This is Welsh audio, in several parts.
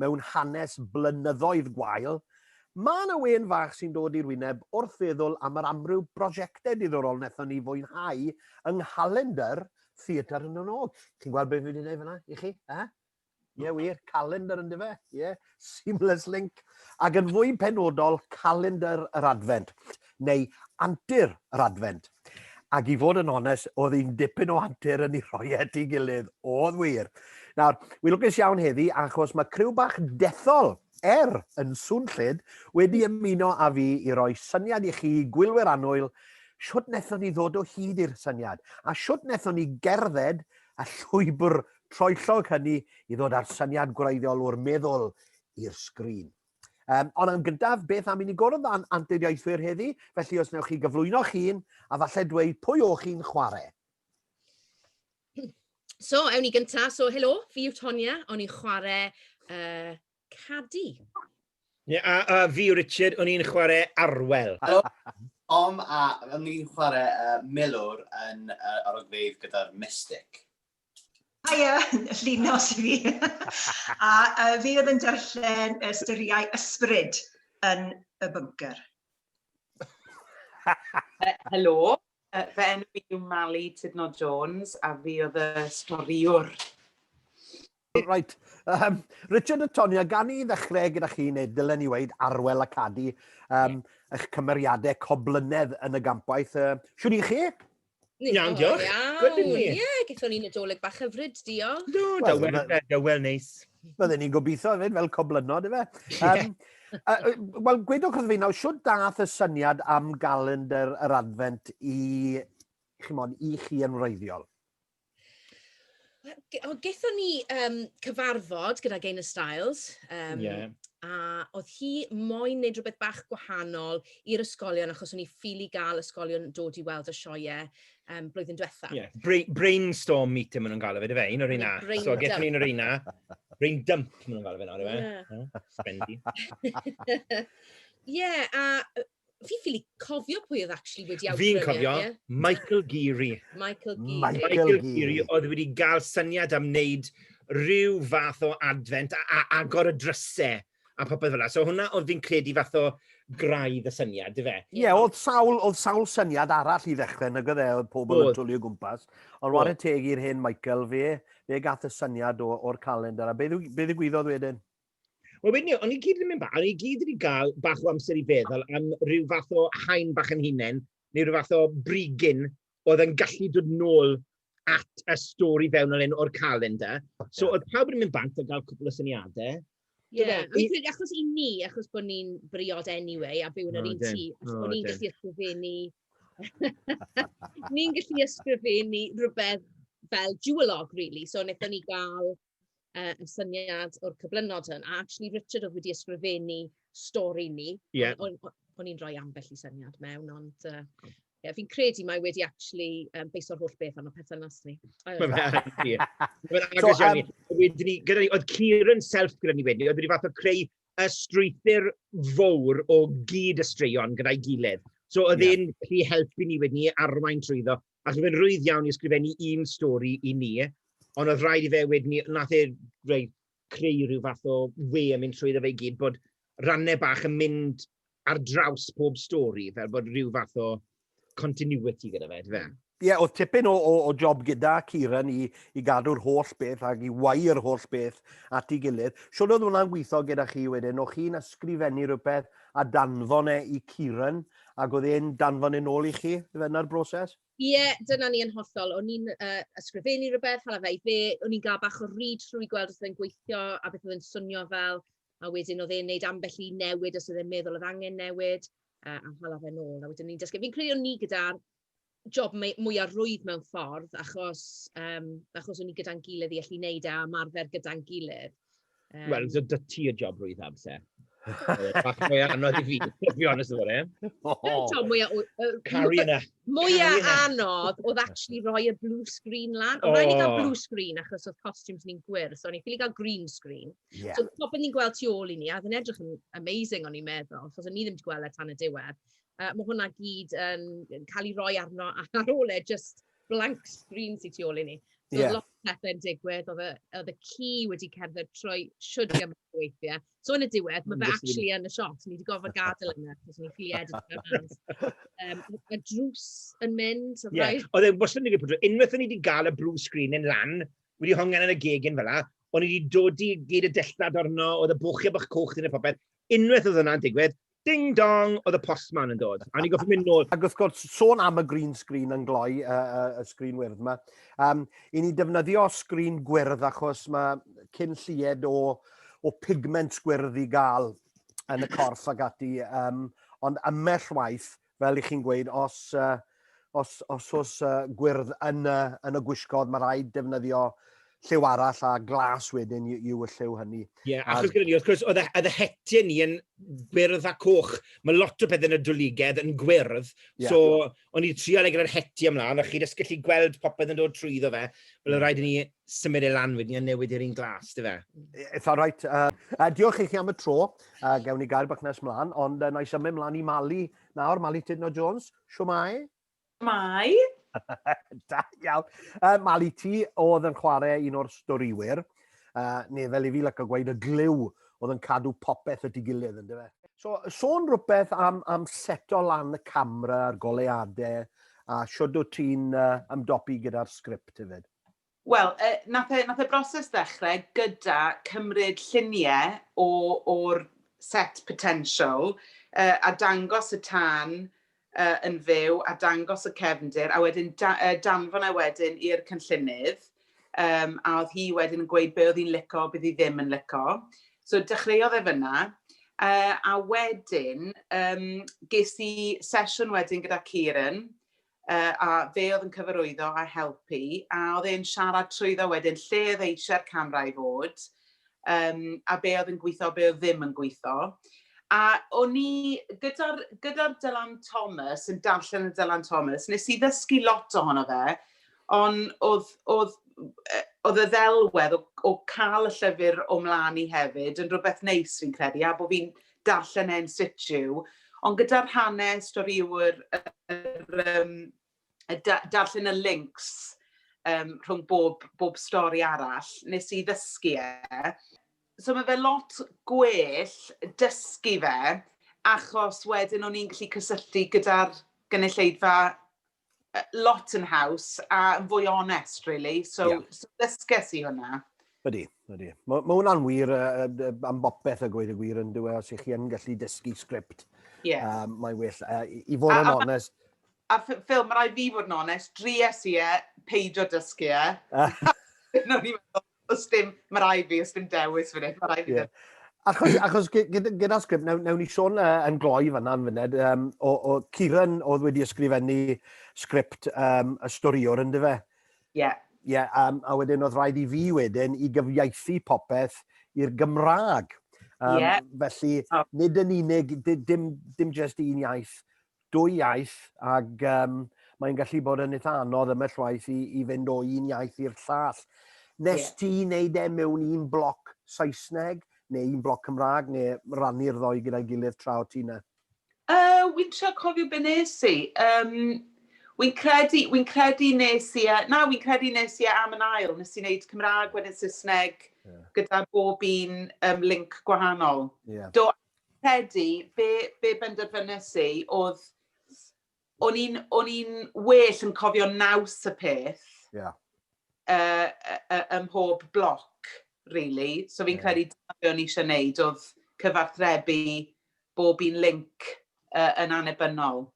mewn hanes blynyddoedd gwael, mae 'na wên fach sy'n dod i'r wyneb wrth feddwl am yr amryw brosiectau diddorol wnaethon ni fwynhau yng nghalendr Theatr y Nod. Chi'n gweld beth fi wedi gwneud fanna i chi? Ie, yeah, wir, calendr yn dyfe? Ie, yeah. seamless link. Ac yn fwy penodol, calendr yr Adfent. neu antur yr Adfent. Ac i fod yn onest, oedd un dipyn o antur yn ei rhoi at ei gilydd, oedd wir. Nawr, wi'n lwcus iawn heddi achos mae criw bach dethol er yn swnllyd wedi ymuno â fi i roi syniad i chi gwylwyr annwyl siwt wnaethon ni ddod o hyd i'r syniad a siwt wnaethon ni gerdded y llwybr troellog hynny i ddod â'r syniad gwreiddiol o'r meddwl i'r sgrin. Um, ond yn gyntaf, beth am i ni gwrdd â'n antudiaethwyr heddi, felly os newch chi gyflwyno'ch hun a falle dweud pwy o'ch chi'n chwarae. So, ewn ni gyntaf. So, helo, fi yw Tonia, o'n i'n chwarae uh, Cadi. Yeah, a, a fi yw Richard, o'n i'n chwarae Arwel. Helo, Om a o'n i'n chwarae uh, Milwr yn uh, arogfeydd gyda'r Mystic. Haia, llino i fi. a uh, fi oedd yn darllen ystyriau ysbryd yn y bunker. Helo, uh, fe enw i yw Mali Tudno Jones a fi oedd y storiwr. Right. Um, Richard a Tonya, gan i ddechrau gyda chi, neu dylen ni weid arwel a cadu um, yeah. eich cymeriadau coblynedd yn y gampaeth. Uh, siwr i chi? Ni'n iawn, diolch. Good in here. Ie, gyda ni Nadolig bach hyfryd, diolch. Do, da wel, da da wel neis. Bydden ni'n gobeithio hefyd, fel coblynod, efe. Um, uh, wel, gwedwch wrth fi nawr, siwr dath y syniad am galendr yr adfent i, chymod, i chi yn wreiddiol? Wel, gaethon ni um, cyfarfod gyda Gain y Styles, um, yeah. a oedd hi moyn wneud rhywbeth bach gwahanol i'r ysgolion, achos o'n i ffili gael ysgolion dod i weld y sioiau um, blwyddyn diwetha. Yeah. Bra brainstorm meeting maen nhw'n gael o fe, dy fe, un o'r un na. So, gaethon ni un o'r un na. Brain dump maen nhw'n gael o fe nawr, dy fe. Ie, a Fi ffili cofio pwy oedd actually wedi awgrymu. Fi'n cofio, e. Michael Geary. Michael Geary. Michael, Michael Geary oedd wedi gael syniad am wneud rhyw fath o adfent a, a agor y drysau a popeth fel yna. So hwnna oedd fi'n credu fath o graidd y syniad, dy fe? Ie, yeah, oedd, sawl, oedd sawl syniad arall i ddechrau nag oedd e, oedd pobl yn twlu o gwmpas. Ond war y teg i'r hen Michael, fe, fe gath y syniad o'r calendar. A beth ddigwyddodd wedyn? Wel wedyn ni, o'n i gyd yn mynd bach, o'n i gyd wedi cael bach o amser i feddwl am rhyw fath o haen bach yn hunain, neu rhyw fath o brigyn oedd yn gallu dod nôl at y stori fewnol hyn o'r calendar. So oedd pawb yn mynd bant a gael cwpl o syniadau. Ie, yeah. fi'n credu achos i ni, achos bod ni'n briod anyway, a byw yn yr un tŷ, achos bod ni'n gallu ysgrifennu... ni'n gallu ysgrifennu rhywbeth fel duolog, really. So, wnaethon ni gael yy, y syniad o'r cyflynod hwn, a actually Richard oedd wedi ysgrifennu stori ni. Ie. Yeah. O'n o'n i'n rhoi ambell i syniad mewn, ond uh, yeah, fi'n credu mae wedi actually um, beiso'r holl beth arno perthynas ni. Mae'n agos iawn ni. Wedyn ni, gyda ni, oedd Kieran Self gyda ni wedyn, oedd wedi fath o creu y strwythyr fawr o gyd y straeon gyda'i gilydd. So oedd e'n yeah. helpu ni wedyn ni arwain trwyddo. Ac oedd e'n rwydd iawn i ysgrifennu un stori i ni, ond oedd rhaid i fe wedyn ni... wnaeth e rei- creu rhyw fath o wê yn mynd trwyddo fe i gyd, bod rannau bach yn mynd ar draws pob stori, fel bod rhyw fath o continuity gyda fe, yndyfe? Ie, oedd tipyn o, o, o job gyda Kieran i, i gadw'r holl beth ac i wau yr holl beth at ei gilydd. Siwr oedd hwnna'n gweithio gyda chi wedyn, o chi'n ysgrifennu rhywbeth a danfon e i Kieran, Ac oedd e'n danfon e'n ôl i chi, ife, yna'r broses? Ie, dyna ni yn hollol. O'n i'n uh, ysgrifennu rhywbeth, hala fe i fe, o'n i'n gael bach o read through i gweld os oedd e'n gweithio a beth oedd e'n swnio fel, a wedyn oedd e'n neud ambell i newid os oedd e'n meddwl oedd angen newid, uh, a hala fe'n ôl. A wedyn ni'n dysgu. Fi'n credu o'n ni gyda'r job mei- mwya rwydd mewn ffordd, achos, yym, achos o'n ni gyda'n gilydd i allu wneud e a ymarfer gyda'n gilydd. Yym... Wel, so 'da ti y job rwydd amser. Bach mwy anodd i fi, to be honest about it. Yr job mwya o- yy... Caru hynna! ...mwya anodd oedd actually rhoi y blue screen lan. O! Oedd raid i ni gael blue screen achos oedd costumes ni'n gwyrdd, so o'n i'n ffili gael green screen. Ie. So popeth ni'n gweld tu ôl i ni, a oedd e'n edrych yn amazing o'n i'n meddwl, achos o'n ni ddim wedi gweld e tan y diwedd. Yy, ma' hwnna gyd yn yn cael ei roi arno a ar ôl e jyst blank screen sy tu ôl i ni. So... Ie. ...o'dd lot o pethe'n digwydd, o'dd y o'dd y ci wedi cerdded trwy shwd gymaint o weithie. So yn y diwedd, ma' fe actually yn y siop, so ni 'di gorfod gadel e 'na achos o'n i'n ffili edrych fe mas. Yym, y drws yn mynd, so rhaid... Ie, oedd e wastad yn digwydd pryd tro, unwaith o'n ni 'di gael y blue screen yn lan, wedi hongian yn y gegin fel 'na, o'n i 'di dodi gyd y dillad arno, oedd y bwchie bach coch 'di neud popeth, unwaith oedd hwnna'n digwydd, Ding dong, oedd y postman yn dod. A ni'n goffi mynd nôl. Ac wrth gwrs, sôn am y green screen yn gloi, y, y, y sgrin wyrdd yma, um, i ni defnyddio sgrin gwyrdd achos mae cyn llied o, o pigment gwyrdd i gael yn y corff ag ati, um, ond ymell waith Fel i chi'n gweud, os, uh, os, os os uh, gwyrdd yn, uh, yn y gwisgodd, mae rhaid defnyddio lliw arall a glas wedyn yw y lliw hynny. Ie, yeah, achos gyda ni, wrth gwrs, oedd y hetiau ni yn gwyrdd a coch. Mae lot o beth yn y dwligedd yn gwyrdd, yeah. so o'n i'n trial ei gyda'r hetiau ymlaen, a chi jyst gallu gweld popeth yn dod trwy iddo fe. Wel, rhaid i ni symud e lan wedyn a newid i'r un glas, dy fe? Eitha rhaid. Uh, uh, diolch i chi am y tro. Uh, gewn ni gair bach nes mlaen, ond uh, na i symud mlaen i Mali. Nawr, Mali Tudno Jones, siwmai? Mai. da iawn. Uh, Mali, ti oedd yn chwarae un o'r storiwyr, uh, neu fel i fi lyco gweud, y glyw oedd yn cadw popeth y digilydd, ynddo fe? So, sôn rhywbeth am, am seto lan y camera a'r goleadau, a siwrd o ti'n uh, ymdopi gyda'r sgript hefyd? Wel, yy, nath e, nath e broses ddechrau gyda cymryd lluniau o, o'r set potential, uh, a dangos y tân uh, yn fyw, a dangos y cefndir, a wedyn da, uh, danfon e wedyn i'r cynllunydd, um, a oedd hi wedyn yn gweud be oedd hi'n lico, bydd hi ddim yn lico. So dechreuodd e fyna, uh, a wedyn um, ges i sesiwn wedyn gyda Kieran, yy a fe oedd yn cyfarwyddo a helpu a oedd e'n siarad trwyddo wedyn lle oedd eisiau'r camera i fod yym a be oedd yn gwitho a be oedd ddim yn gwitho a o'n i gyda'r gyda'r Dylan Thomas yn darllen y Dylan Thomas nes i ddysgu lot ohono fe on' o'dd o'dd yy o'dd y ddelwedd o o ca'l y llyfyr o mlan i hefyd yn rwbeth neis fi'n credu a bo' fi'n darllen e in situ, ond gyda'r hanes, stori yw'r yr yym y da- darllen y links um, rhwng bob, bob stori arall, nes i ddysgu e. So mae fe lot gwell dysgu fe, achos wedyn o'n i'n gallu cysylltu gyda'r gynulleidfa lot yn haws a yn fwy onest, really. So, yeah. so dysges i hwnna. Ydy, ydy. Mae ma hwnna'n wir uh, uh, am bopeth y gweud y gwir yn dweud e, os ych chi yn gallu dysgu sgript. Yes. Uh, mae well. Uh, I fod yn onest... A, a ffilm, mae rai fi fod yn onest, dries i e, peidio dysgu e. Ah. Os dim, mae rai fi, os dim dewis fan hyn, mae rai fi ddim. Achos, achos gyda'r sgript, newn, newn ni sôn uh, yn gloi fanna yn fyned, um, o, o Ciran oedd wedi ysgrifennu sgript um, y storiwr yn dyfe? Ie. Yeah. Ie, yeah, um, a wedyn oedd rhaid i fi wedyn i gyfieithu popeth i'r Gymraeg. Um, yeah. Felly, oh. nid yn unig, dim, dim just un iaith, dwy iaith ac um, mae'n gallu bod yn eitha anodd ymell waith i, i fynd o un iaith i'r llall. Nes yeah. ti wneud e mewn un bloc Saesneg neu un bloc Cymraeg neu rannu'r ddoi gyda'i gilydd tra o ti na? Uh, wy'n trio cofio be nes i. Um, wy'n credu, wy'n credu nes i, e, na, wy'n credu nes i e am yn ail, nes i wneud Cymraeg wedyn Saesneg yeah. gyda bob un um, link gwahanol. Yeah. Do, Credu be be benderfynais i oedd o'n i'n o'n i'n well yn cofio naws y peth. Ie. Yeah. Uh, uh, uh, ym mhob bloc, really. So fi'n yeah. credu dyna be o'n i eisiau gwneud oedd cyfarthrebu bob un link uh, yn anebynol.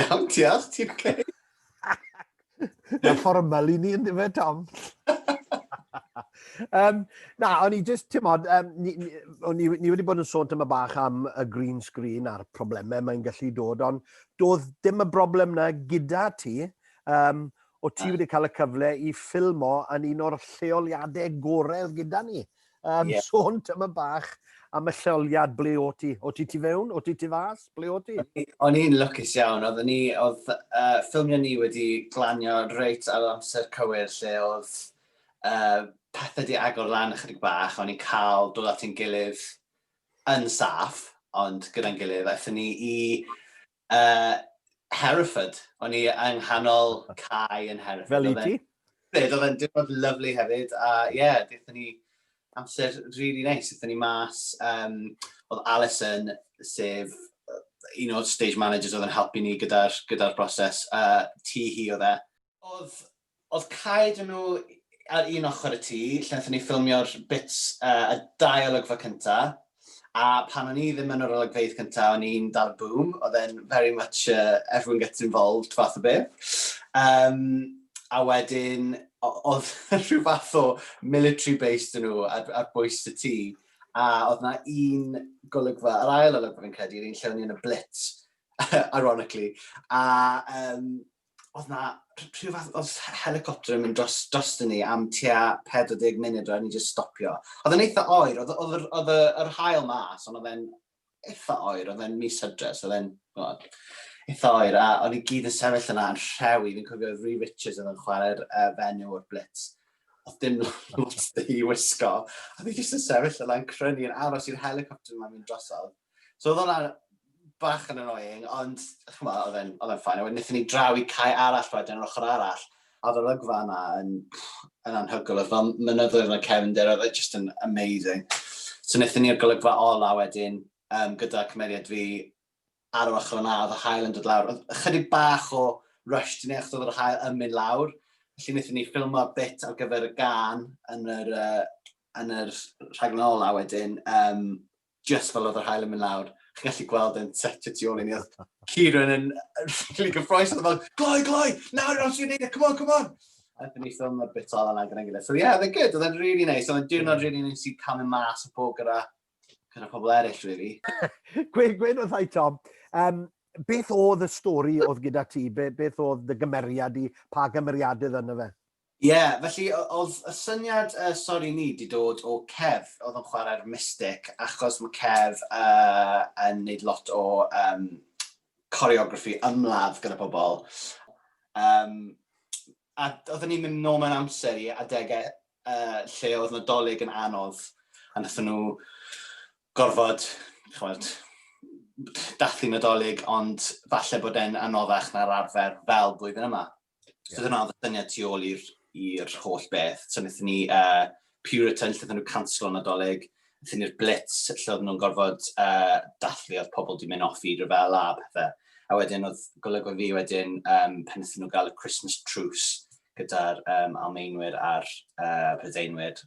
Iawn, diolch, ti'n oce? Mae fformal i ni yn dweud, Tom. um, na, o'n i just, ti'n modd, um, ni, ni, ni, ni wedi bod yn sôn tyma bach am y green screen a'r problemau mae'n gallu dod, ond doedd dim y broblem na gyda ti. Um, o ti wedi cael y cyfle i ffilmo yn un o'r lleoliadau gorau gyda ni. Um, yeah. Sôn tyma bach am y lleoliad ble o ti. O ti ti fewn? O ti ti fas? Ble o ti? O'n i'n lwcus iawn. Oedd ni, oedd uh, ffilmio ni wedi glanio reit ar amser cywir lle oedd uh, pethau di agor lan ychydig bach. O'n i'n cael dod at ein gilydd yn saff, ond gyda'n gilydd. Aethon ni i Uh, Hereford. O'n i yng nghanol cae yn Hereford. Fel i ti? Byd, oedd e'n diwrnod lyflu hefyd, a ie, yeah, dethon ni amser rili really neis. Nice. Dethon ni mas, um, oedd Alison, sef un o'r stage managers oedd yn helpu ni gyda'r gyda broses, uh, ti hi oedd e. Oedd Oedd Cae dŷ nhw ar un ochr y tŷ lle nathon ni ffilmio'r bits yy y dau olygfa cynta, a pan o'n i ddim yn yr olygfeydd cynta o'n i'n dal y boom, oedd e'n very much a everyone gets involved fath o beth. Yym a wedyn o- oedd rhyw fath o military base dŷ nhw ar ar bwys y tŷ, a oedd 'na un golygfa, yr ail olygfa fi'n credu, yr un lle o'n i yn y blitz ironically, a yym oedd na rhyw fath, oedd helicopter yn mynd dros, dros dyn ni am tua 40 munud roedd ni jyst stopio. Oedd yn eitha oer, oedd, oedd, oedd yr hael mas, ond oedd e'n eitha oer, oedd e'n mis hydres, oedd e'n eitha oer, a o'n i gyd yn sefyll yna yn rhewi, fi'n cofio Rhys Richards oedd yn chwarae'r uh, fenyw o'r blitz, oedd dim lot i wisgo, a fi jyst yn sefyll yna yn crynu yn aros i'r helicopter yma'n mynd drosodd. So oedd hwnna bach yn annoying, ond ch'mo' oedd e'n oedd e'n fine. A wedyn nethon ni draw i cae arall wedyn, yr ochr arall, a oedd yr olygfa yna yn yn anhygoel, oedd fel mynyddoedd fel cefndir, oedd e jyst yn amazing. So nethon ni'r golygfa ola wedyn um, gyda cymeriad fi ar yr ochr yna, oedd y hael yn dod lawr. Oedd ychydig bach o rush dyn ni achos oedd yr hael yn mynd lawr, felly wnaethon ni ffilmo bit ar gyfer y gan yn yr, uh, yn yr rhaglen ola wedyn, um, jyst fel oedd yr hael yn mynd lawr, chi'n gallu gweld e'n set y tu ôl i ni, oedd Kieran yn really gyffroes, oedd fel, gloi, gloi, nawr yw'n sy'n neud e, come on, come on. A dyn ni ffilm o'r bit ola na gyda'n gilydd. So yeah, they're good, oedd e'n really nice, oedd e'n diwrnod really nice i camu mas o bod gyda, gyda pobl eraill, really. Gweud, gweud oedd hai, Tom, um, beth oedd y stori oedd gyda ti? Be, beth oedd dy gymeriad i? Pa gymeriadydd yna fe? Ie, felly o- o'dd y syniad yy Sori Ni 'di dod o Kev o'dd yn chwarae'r Mystic achos ma' Kev yy yn neud lot o yym choreography ymladd gyda pobol yym a d- odden ni'n mynd nôl mewn amser i adege yy lle o'dd Nadolig yn anodd a nathon nw gorfod ch'mod dathlu Nadolig ond falle bod e'n anoddach na'r arfer fel blwyddyn yma. So yeah. dyna oedd y syniad tu ôl i'r holl beth. So wnaethon ni uh, Puritan, lle nhw cancel o'n adolyg, wnaethon ni'r Blitz, lle oedd nhw'n gorfod uh, dathlu oedd pobl di mynd off i rhyfel a pethau. A wedyn oedd golygodd fi wedyn um, pan wnaethon nhw gael y Christmas Truce gyda'r um, Almeinwyr a'r uh, Prydeinwyr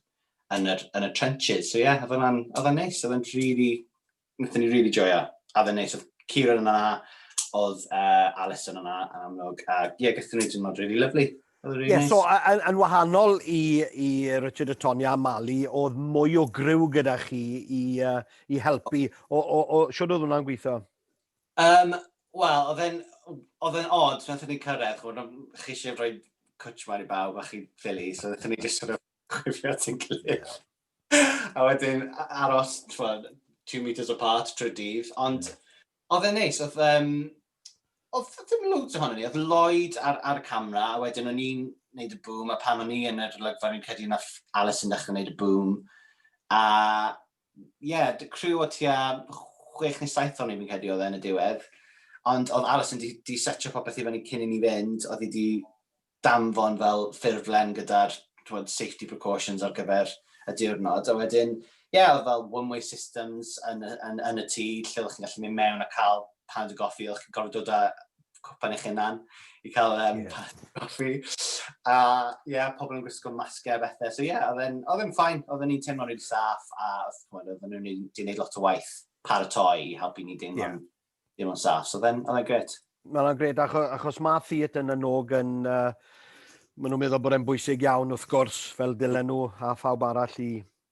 yn y, yn y trenches. So ie, yeah, oedd hwnna'n neis, oedd hwnna'n really Wnaethon ni rili joio, a oedd e'n neis, oedd Kieran yna, oedd uh, Alison yna yn amlwg, a ie, yeah, gyda ni diwrnod rili lyflu. Really yeah, nice. so, yn, yn wahanol i, i Richard a Tonya a Mali, oedd mwy o gryw gyda chi i, uh, i helpu. O, o, o, siwr oedd hwnna'n gweithio? Um, Wel, oedd e'n oedd e'n odd, nath ni cyrraedd, chwbod, chi eisiau rhoi cwtch mawr i bawb a chi ffili, so nath ni just sort of gwifio at ein gilydd. a wedyn aros, twad, two metres apart trwy dydd, ond oedd e'n neis, oedd, um, oedd ddim loads ohono ni, oedd Lloyd ar, ar y camera, a wedyn o'n i'n neud y boom, a pan o'n i yn yr olygfa, fi'n credu na Alice yn dechrau neud y boom, a ie, yeah, dy criw o tua chwech neu saith o'n i'n fi'n credu oedd e yn y diwedd, ond oedd Alice yn di, di setio popeth i fyny cyn i ni fynd, oedd hi di danfon fel ffurflen gyda'r t'mod safety precautions ar gyfer y diwrnod a wedyn ie o'dd fel one way systems yn y yn yn y tŷ lle oddech chi'n gallu mynd mewn a ca'l paned o goffi oddech chi'n gorfod dod â cwpan eich hunan i ca'l yym... Ie. ...paned o goffi a ie pobol yn gwisgo masge a bethe so ie o'dd e'n o'dd e'n fine odden ni'n teimlo'n rili saff a ch'mod odden nw'n neu- 'di neud lot o waith paratoi i helpu ni deimlo'n... Ie. Dim ond sas, oedd e'n gret. Mae hwnna'n gret, achos, achos mae theatr yn y nog yn... Uh, maen nhw'n meddwl bod e'n bwysig iawn, wrth gwrs, fel dylen nhw a phawb arall i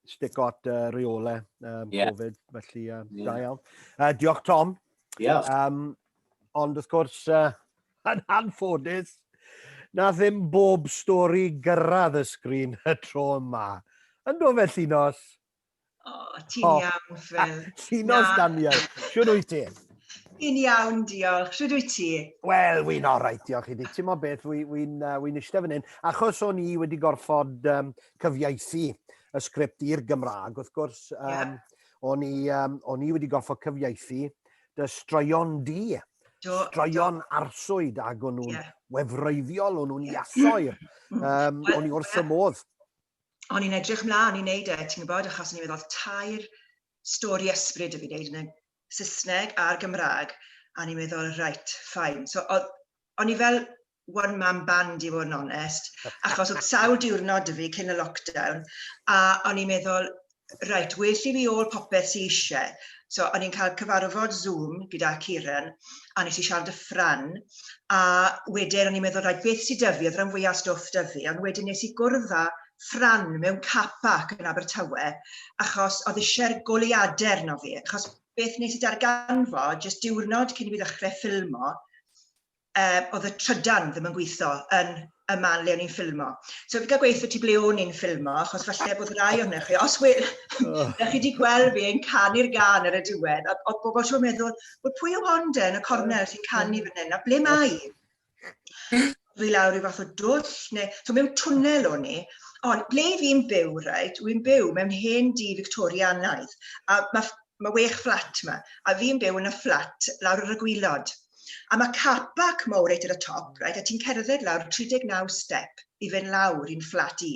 stick at uh, reole um, yeah. Covid, felly uh, yeah. da iawn. Uh, diolch, Tom. Diolch. Um, ond wrth gwrs, uh, yn anffodus, na ddim bob stori gyrraedd y sgrin y tro yma. Yn do felly nos? O, ti'n oh. iawn, Phil. Llinos, Daniel. Siwr wyt ti? Yn iawn, diolch. Siwr wyt ti? Wel, wy'n orau, diolch i ti. Ti'n mo beth, wy'n wy, wy, uh, wy eistedd fan hyn. Achos o'n i wedi gorfod um, cyfieithu y sgript i'r Gymraeg, wrth gwrs, um, yeah. o'n, i, um, o'n i wedi gorfod cyfieithu dy straeon di. Do, straeon do. arswyd ac o'n nhw'n yeah. wefreiddiol, o'n nhw'n iasoer. Um, o'n i wrth y modd. o'n i'n edrych mlaen i wneud e, ti'n gwybod, achos o'n i'n meddwl tair stori ysbryd y fi wneud yn y Saesneg a'r Gymraeg, a ni'n meddwl, right, fine. So, o'n i fel one man band i fod yn onest, achos oedd sawl diwrnod y fi cyn y lockdown, a o'n i'n meddwl, Reit, well i fi ôl popeth sy isie. So, o'n i'n cael cyfarfod Zoom gyda Kieran, a nes i siarad y ffran, a wedyn o'n i'n meddwl, rhaid, beth sydd dyfu, oedd rhan fwyaf stwff dyfu, ond wedyn nes i gwrdd â ffran mewn car park yn Abertawe, achos oedd eisiau'r goliadau arno fi, achos beth nes i darganfod, jyst diwrnod cyn i fi ddechrau ffilmo, uh, oedd y trydan ddim yn gweithio yn y man le o'n i'n ffilmo. So fi gael gweithio ti ble o'n i'n ffilmo, achos falle bod rai o'n chi, os we, oh. chi wedi gweld fi yn canu'r gan ar y diwedd, a oedd bobl siwr meddwl, wel pwy o wonde yn y cornel sy'n canu fan hyn, a ble mae? Fi lawr i fath o dwll, neu, so mewn twnnel o'n i, ond ble fi'n byw, reit, wy'n byw mewn hen di Victorianaidd, a mae Mae wech fflat ma. A fi'n byw yn y fflat lawr ar y gwilod. A mae car park mowr reit ar y top, reit, a ti'n cerdded lawr 39 step i fynd lawr i'n fflat i.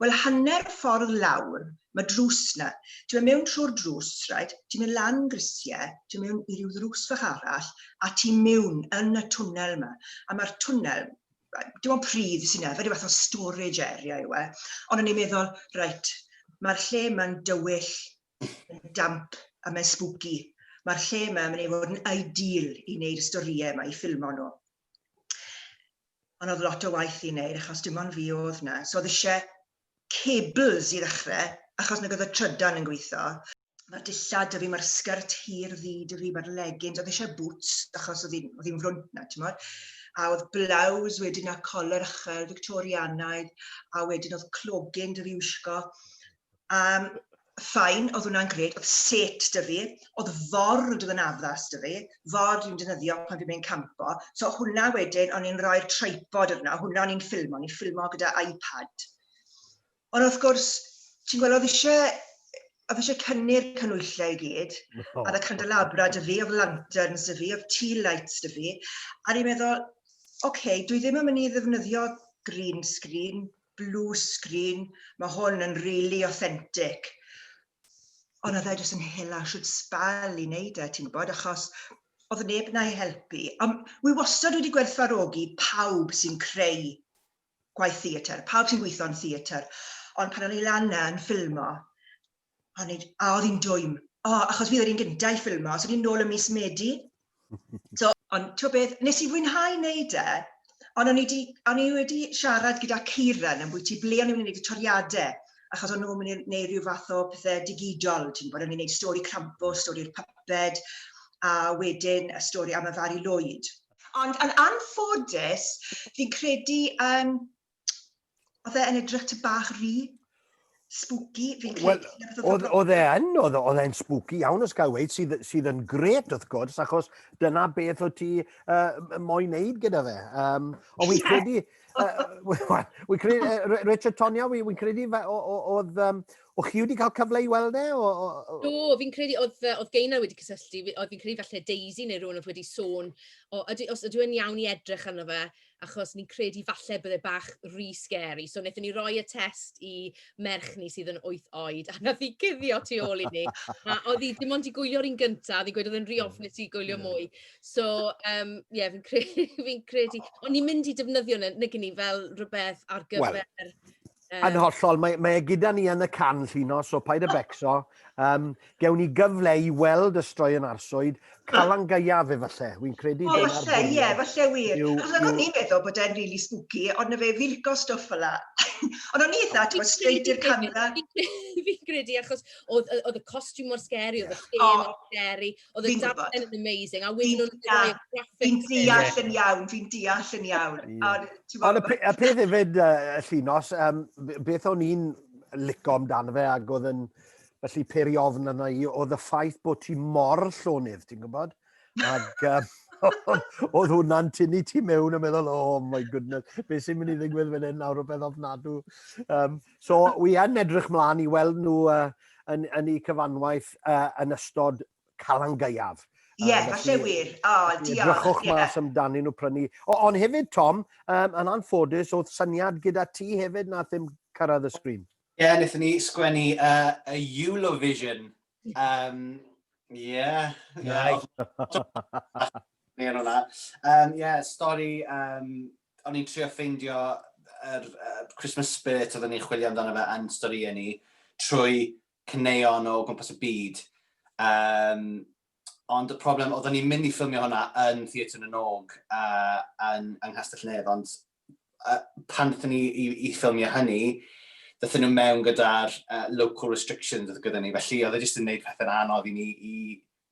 Wel, hanner ffordd lawr, mae drws 'na. Ti'n mynd mewn trwy'r drws, reit, ti'n mynd lan grisiau, ti'n mynd mewn i ryw ddrws fach arall, a ti mewn yn y twnnel 'ma. A mae'r twnnel, dim ond pridd sy'n 'na, fe ryw fath o storage area yw e. Ond o'n i'n meddwl, reit, mae'r lle 'ma'n dywyll Mae'n damp a mae'n spooky. Mae'r lle yma yn mynd i fod yn ideal i wneud y storïau yma, i ffilmo nhw. Ond oedd lot o waith i wneud achos dim ond fi oedd yna. So oedd eisiau cables i ddechrau achos nag oedd y trydan yn gweithio. Mae'r dillad 'da fi, mae'r sgert hir ddu 'da fi, mae'r leggings, oedd eisiau boots achos oedd hi'n oedd hi'n frwnt 'na t'mod? A oedd blouse wedyn a collar uchel Fictorianaidd a wedyn oedd clogyn 'da fi wisgo Um, ffain, oedd hwnna'n gred, oedd set dy fi, oedd ford oedd yn addas dy fi, ford i'n dynyddio pan fi'n mynd campo, so hwnna wedyn, o'n i'n rhoi'r tripod yna, hwnna o'n i'n ffilmo, o'n i'n ffilmo gyda iPad. Ond wrth gwrs, ti'n gweld, oedd eisiau oedd eisiau cynnu'r canwyllau i gyd, oh. a oedd y candelabra dy fi, oedd lanterns dy fi, oedd tea lights dy fi, a ni'n meddwl, oce, okay, dwi ddim yn mynd i ddefnyddio green screen, blue screen, mae hwn yn really authentic. Ond oedd e jyst yn hela siwt sbal i wneud e, ti'n gwybod, achos oedd neb na i helpu. Um, wi wastad wedi gwerthfarogi pawb sy'n creu gwaith theatr, pawb sy'n gweithio'n theatr. Ond pan o'n i lan yn ffilmo, O, nid, a oedd hi'n dwym. O, achos fi oedd yr un gyntaf i ffilmo, so ni'n nôl y mis Medi. So, ond ti'n beth, nes i fwynhau wneud e, ond o'n i, di, o'n i wedi siarad gyda Kieran yn bwyty ble o'n i'n gwneud y toriadau, achos o'n nhw'n mynd i wneud rhyw fath o pethau digidol, ti'n bod, o'n i'n gwneud stori crampo, stori'r puppet, a wedyn y stori am y Fari Lloyd. Ond yn anffodus, fi'n credu yn oedd e yn edrych ty bach rhy spooky, fi'n credu. Well, oedd e yn, oedd e'n spooky iawn os gael weid, sydd, sydd yn gret wrth gwrs, achos dyna beth o ti uh, moyn neud gyda fe. Um, ond fi'n credu, uh, fi'n credu, uh, Richard Tonia, fi'n credu oedd, um, O chi wedi cael cyfle i weld e? O, o, o... Do, fi'n credu, oedd, oedd Geina wedi cysylltu, oedd fi'n credu falle Daisy neu rhywun oedd wedi sôn, o, ydy, os ydw i'n iawn i edrych arno fe, achos ni'n credu falle bod e bach rhy scary. So wnaethon ni roi y test i merch ni sydd yn wyth oed, a nath hi cuddio tu ôl i ni. A oedd hi dim ond i gwylio'r un gyntaf, oedd hi'n gweud oedd e'n rhy ofnus i gwylio mwy. So, um, ie, yeah, fi'n credu, fi credu... O'n ni'n mynd i defnyddio nhw, nag ni, fel rhywbeth ar gyfer... Well, Um, yn hollol, mae, mae e gyda ni yn y can llun o, so paid y becso. Um, gewn ni gyfle i weld y stroi yn arswyd, calan gaiaf efalle, wy'n credu oh, dyna'r falle, ie, yeah, falle wir. Yw, Achos yw... o'n i'n meddwl bod e'n really spooky, ond na fe filgo stwff fel la. ond o'n i'n eitha, ti'n gwybod, straight i'r camera. Fi'n credu, achos oedd y costiwm mor scary, oedd y lle oh. mor scary, Oedd y darllen yn amazing. A wedyn nhw'n rhoi graphics. Fi'n deall yn iawn, fi'n deall yn iawn. Ond y peth hefyd, y llinos, um, beth o'n i'n lico amdano fe ac oedd yn felly peri ofn yna i, oedd y ffaith bod ti mor llonydd, ti'n gwybod? Ac um, oedd hwnna'n tynnu ti mewn a meddwl, oh my goodness, beth sy'n mynd i ddigwydd fan hyn nawr o beth ofnadw. Um, So, wi yn edrych mlaen i weld nhw uh, yn, yn ei cyfanwaith uh, yn ystod Calan Gaeaf. Ie, yeah, falle wir. O, oh, diolch. Drychwch yeah. mas amdani nhw prynu. O, ond hefyd, Tom, um, yn anffodus, oedd syniad gyda ti hefyd na ddim cyrraedd y sgrin. Ie, yeah, wnaethon ni sgwennu uh, a Eurovision. Um, yeah. Ie. Ie, stori um, o'n i'n trio ffeindio yr uh, Christmas spirit oedden ni'n chwilio amdano fe yn storïau ni trwy cyneuon o gwmpas y byd. Um, ond y problem, oedden ni'n mynd i ffilmio hwnna yn Theatr y Nog uh, yn, yng Nghastell Nedd, ond uh, pan ddyn ni i, i ffilmio hynny, ddyn nhw mewn gyda'r uh, local restrictions oedd gyda ni, felly oedd e jyst yn gwneud pethau'n anodd i ni i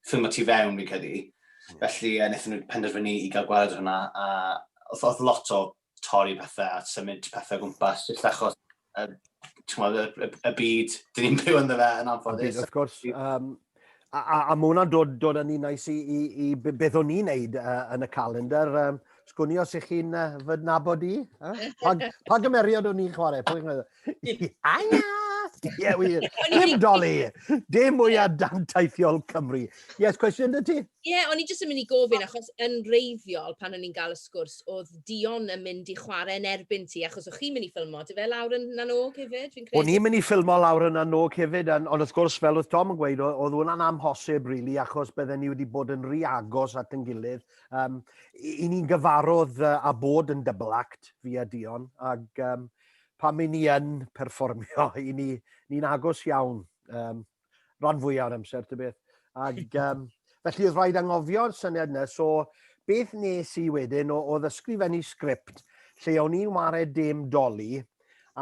ffilm o tu fewn, fi'n credu. Mm. Felly, uh, wnaethon nhw penderfynu i gael gweld hwnna, a oedd lot o torri pethau a symud pethau gwmpas, jyst achos y, y, y, y byd, dyn ni'n byw ynddo fe yn anffodus. Wrth gwrs, um, a, a, a mae hwnna'n dod, dod yn un nais i, i, i beth o'n i'n neud uh, yn y calendar. Um, sgwni os ych chi'n uh, fy nabod i. Huh? Pa, pa gymeriad o'n i'n chwarae? Anya! Ie, wir. Dim doli! Dim mwyaf dantaithiol Cymru. Yes, cwestiwn dy ti? Ie, o'n i jyst yn mynd i gofyn, achos yn reiddiol, pan o'n i'n gael y sgwrs, oedd Dion yn mynd i chwarae yn erbyn ti, achos o'ch chi'n mynd i ffilmo, dy fe lawr yn nanog hefyd, fi'n credu? O'n i'n mynd i ffilmo lawr yn nanog hefyd, ond wrth gwrs, fel oedd Tom yn gweud, oedd hwnna'n amhosib, rili, really, achos bydden ni wedi bod yn rhy agos at yn gilydd. Um, I ni'n gyfarwydd uh, a bod yn double act fi a Dion, ac um, Pan i ni yn perfformio, i ni, ni'n agos iawn, um, ran fwyaf o'r amser, ty beth. Ac, um, felly oedd rhaid angofio'r syniad yna, so beth nes i wedyn o, o ddysgrifennu sgript lle o'n i'n wared dim doli,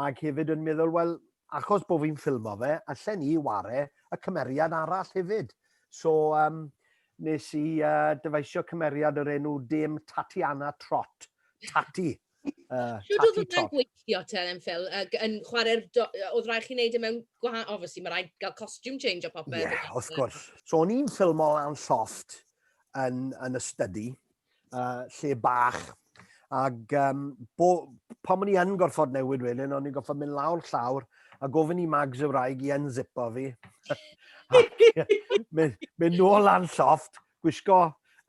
ac hefyd yn meddwl, wel, achos bod fi'n ffilmo fe, allan ni ware y cymeriad arall hefyd. So, um, nes i uh, dyfaisio cymeriad o'r enw Dame Tatiana Trot, Tati. Uh, Shwt oedd hwnna'n gweithio te yn ffil? Yn chwarae'r... Oedd rhaid chi wneud e mewn gwahanol... Obviously, mae rhaid gael costume change o popeth. Ie, yeah, wrth gwrs. So, o'n i'n ffilmo lan lloft yn, yn y study, uh, lle bach. Ac um, bo, pan o'n i yn gorfod newid wedyn, o'n i'n gorfod mynd lawr llawr a gofyn i Mags y wraig i unzipo fi. mynd, mynd nôl lan lloft, gwisgo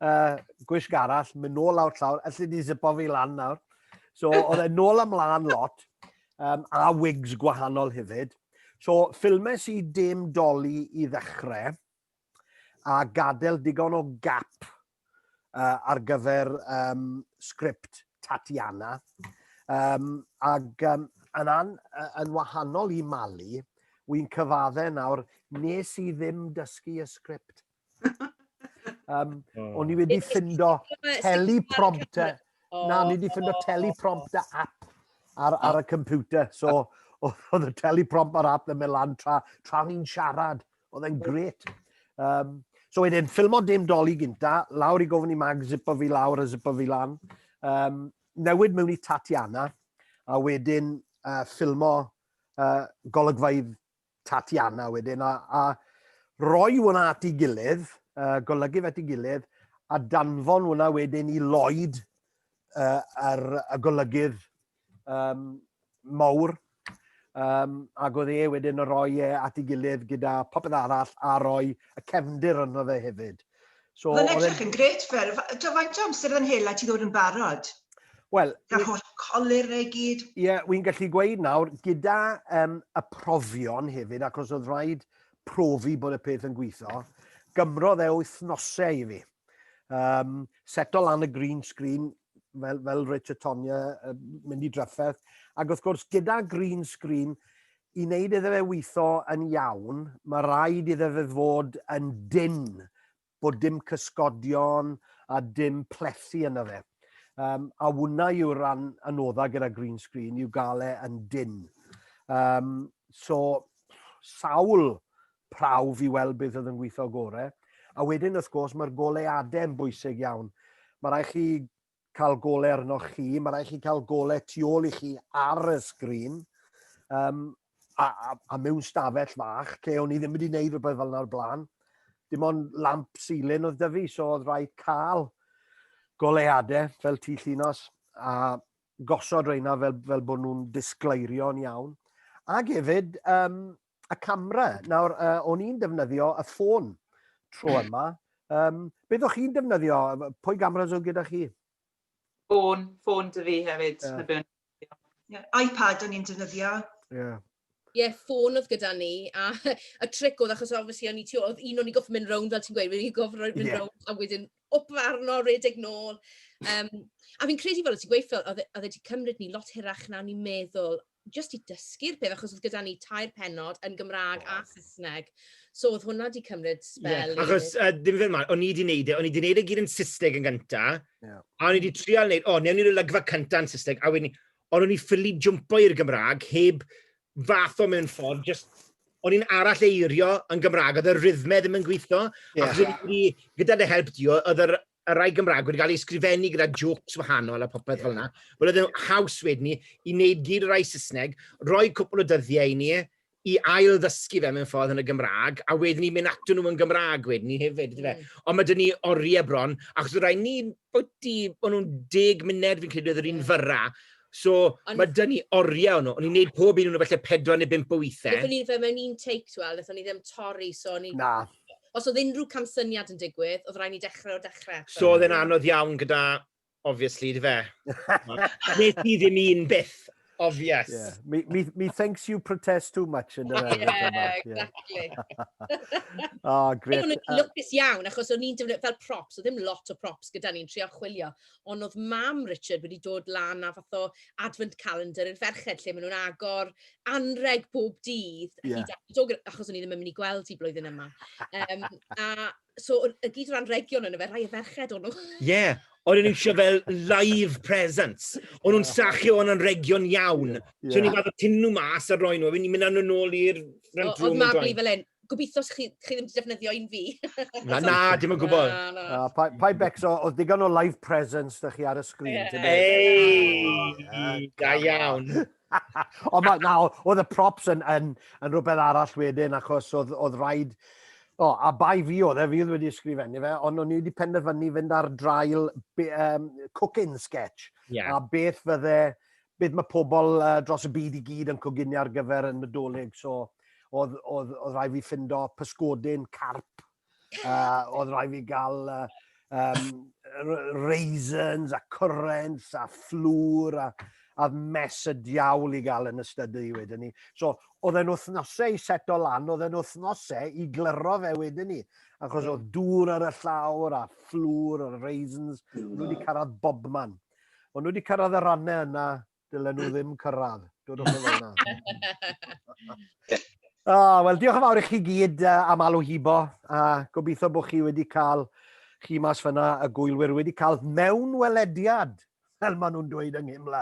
uh, gwisg arall, mynd nôl lawr tlawr, allu di zipo fi lan nawr. So, oedd e nôl ymlaen lot, um, a wigs gwahanol hefyd. So, ffilmes i dim doli i ddechrau, a gadael digon o gap uh, ar gyfer um, sgript Tatiana. Um, ac um, yn, an, yn wahanol i Mali, wy'n cyfadde nawr, nes i ddim dysgu y sgript. um, o'n i wedi ffindo teleprompter. Na, o'n i wedi ffindo teleprompter app ar, ar y computer. So, oedd y teleprompt ar app yn mynd lan tra, tra o'n i'n siarad. Oedd e'n gret. Um, so wedyn, ffilmo dim doli gynta, lawr i gofyn i mag, zipo fi lawr a zipo fi lan. Um, newid mewn i Tatiana, a wedyn uh, ffilmo uh, golygfaidd Tatiana wedyn, a, a roi hwnna at ei gilydd, uh, golygu fe at ei gilydd, a danfon hwnna wedyn i Lloyd uh, ar y golygydd um, mawr, um, ac oedd e wedyn yn rhoi e at ei gilydd gyda popeth arall a roi y cefndir yno fe hefyd. So, Mae'n edrych yn gret fel, do faint o amser yn hela ti ddod yn barod? Wel... Gael holl colir neu gyd. Ie, yeah, wy'n gallu gweud nawr, gyda um, y profion hefyd, ac os oedd rhaid profi bod y peth yn gweithio, gymrodd e wythnosau i fi. Um, seto lan y green screen, fel, fel Richard Tonya, uh, mynd i drafferth, ac wrth gwrs gyda green screen, i wneud iddo fe weithio yn iawn, mae rhaid iddo fe fod yn dyn, bod dim cysgodion a dim plethu yna fe. Um, a hwnna yw ran anoddau gyda green screen, yw gael e yn dyn. Um, so, sawl prawf i weld beth oedd yn gweithio gore. A wedyn, wrth gwrs, mae'r goleadau yn bwysig iawn. Mae rhaid chi cael gole arnoch chi, mae rhaid chi cael gole tu ôl i chi ar y sgrin, um, a, a, a mewn stafell fach, lle o'n i ddim wedi gwneud rhywbeth fel yna o'r blaen. Dim ond lamp silyn oedd dyfu, so oedd rhaid cael goleadau fel tu llinos, a gosod reina fel, fel bod nhw'n disgleirio yn iawn. Ac hefyd, um, y camera. Nawr, uh, o'n i'n defnyddio y ffôn tro yma. Um, beth o'ch chi'n defnyddio? Pwy gamera'n oedd gyda chi? Ffôn, ffôn dy fi hefyd. Yeah. Yeah, iPad o'n i'n defnyddio. Yeah. Ie, yeah, ffôn oedd gyda ni, a y tric oedd, achos obviously o'n i ti, oedd un o'n i goffi mynd rownd, fel ti'n gweud, wedi goffi mynd yeah. rownd, a wedyn op farno, redeg nôl. Um, a fi'n credu fel o ti'n gweud, oedd e wedi e cymryd ni lot hirach na o'n i'n meddwl, jyst i dysgu'r peth, achos oedd gyda ni tair penod yn Gymraeg a Saesneg. So oedd hwnna wedi cymryd spel. Ie, achos uh, ddim fe ma'n, o'n i wedi neud e, o'n i wedi neud e gyd yn Saesneg yn gynta, yeah. a o'n i wedi trial neud, o, oh, newn ni'r olygfa cynta yn Saesneg, a wedyn, ond o'n i ffili jumpo i'r Gymraeg heb fath o mewn ffordd, just o'n i'n arall eirio yn Gymraeg, oedd y rhythmau ddim yn gweithio, yeah. ac yeah. gyda dy help di, oedd yr y rhai Gymraeg wedi cael ei ysgrifennu gyda jokes wahanol a popeth yeah. fel yna. Wel, oedd yn haws wedyn ni i wneud gyd y rhai Saesneg, roi cwpl o dyddiau i ni, i ail ddysgu fe mewn ffordd yn y Gymraeg, a wedyn ni mynd ato nhw yn Gymraeg wedyn ni hefyd. Mm. Ond mae dyn ni oriau bron, achos rhai ni, bod di, bod nhw'n deg munud fi'n credu oedd yr un mm. fyrra, So, Ond... mae dyn ni oriau nhw. O'n i'n neud pob un o'n nhw felly pedwar neu bimp o weithiau. Nethon ni fe mewn un take, twel, nethon ni ddim torri, so ni... Na. Os oedd unrhyw camsyniad yn digwydd, oedd rhaid ni dechrau o'r dechrau. So oedd e'n anodd iawn gyda, obviously, dy fe? Nes ti ddim un byth, obvious. Yeah. Me, me, me thinks you protest too much yn yr enw. Yeah, exactly. oh, great. O'n i'n lwcus iawn, achos o'n i'n defnyddio fel props, oedd ddim lot o props gyda ni'n trio chwilio. ond oedd mam Richard wedi dod lan a fath o advent calendar i'r ferched lle maen nhw'n agor anreg bob dydd, yeah. hyd at dog, achos o'n i ddim yn mynd i gweld hi blwyddyn yma. Um, a so, y gyd o'r anregion yna fe, rhai y ferched o'n nhw. Ie, yeah. O'n nhw'n eisiau fel live presents. O'n nhw'n sachio yn anregion iawn. Yeah. So o'n i'n fath o tyn nhw mas a roi nhw, a fi'n mynd â nhw'n ôl i'r rent room. Oedd Mabli fel hyn, Gobeithio chi, chi ddim wedi defnyddio un fi. na, na, dim yn gwybod. Na, na. na pa, pa becso, oedd digon o live presence da chi ar y sgrin. Yeah. Ei, da iawn. o, ma, na, oedd y props yn, yn, yn rhywbeth arall wedyn, achos oedd, oedd rhaid... O, a bai fi oedd e, fi oedd wedi ysgrifennu fe, ond o'n i wedi penderfynu fynd ar drail be, um, cooking sketch. Yeah. A beth fydde beth mae pobl uh, dros y byd i gyd yn coginio ar gyfer y Nadolig. So, oedd, oedd, oedd rhaid fi ffindo pysgodyn, carp, uh, oedd rhaid fi gael uh, um, raisins a currants a fflwr a, a mes y diawl i gael yn ystod y wedyn ni. So, oedd e'n wythnosau i seto lan, oedd e'n wythnosau i glyro fe wedyn ni. Achos oedd dŵr ar y llawr a fflwr a raisins, nhw wedi cyrraedd bob man. Ond nhw wedi cyrraedd y rannau yna, dylen nhw ddim cyrraedd. Dod o'n fel yna. oh, Wel, diolch yn fawr i chi gyd uh, am alw hibo. A gobeithio bod chi wedi cael chi mas fyna y gwylwyr wedi cael mewn welediad, fel maen nhw'n dweud yng Nghymla,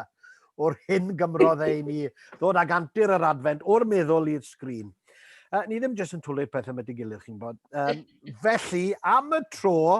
o'r hyn gymrodd ei ni ddod ag antur yr adfent o'r meddwl i'r sgrin. Uh, ni ddim jyst yn twlu'r pethau yma dy gilydd, chi'n bod. Um, felly, am y tro,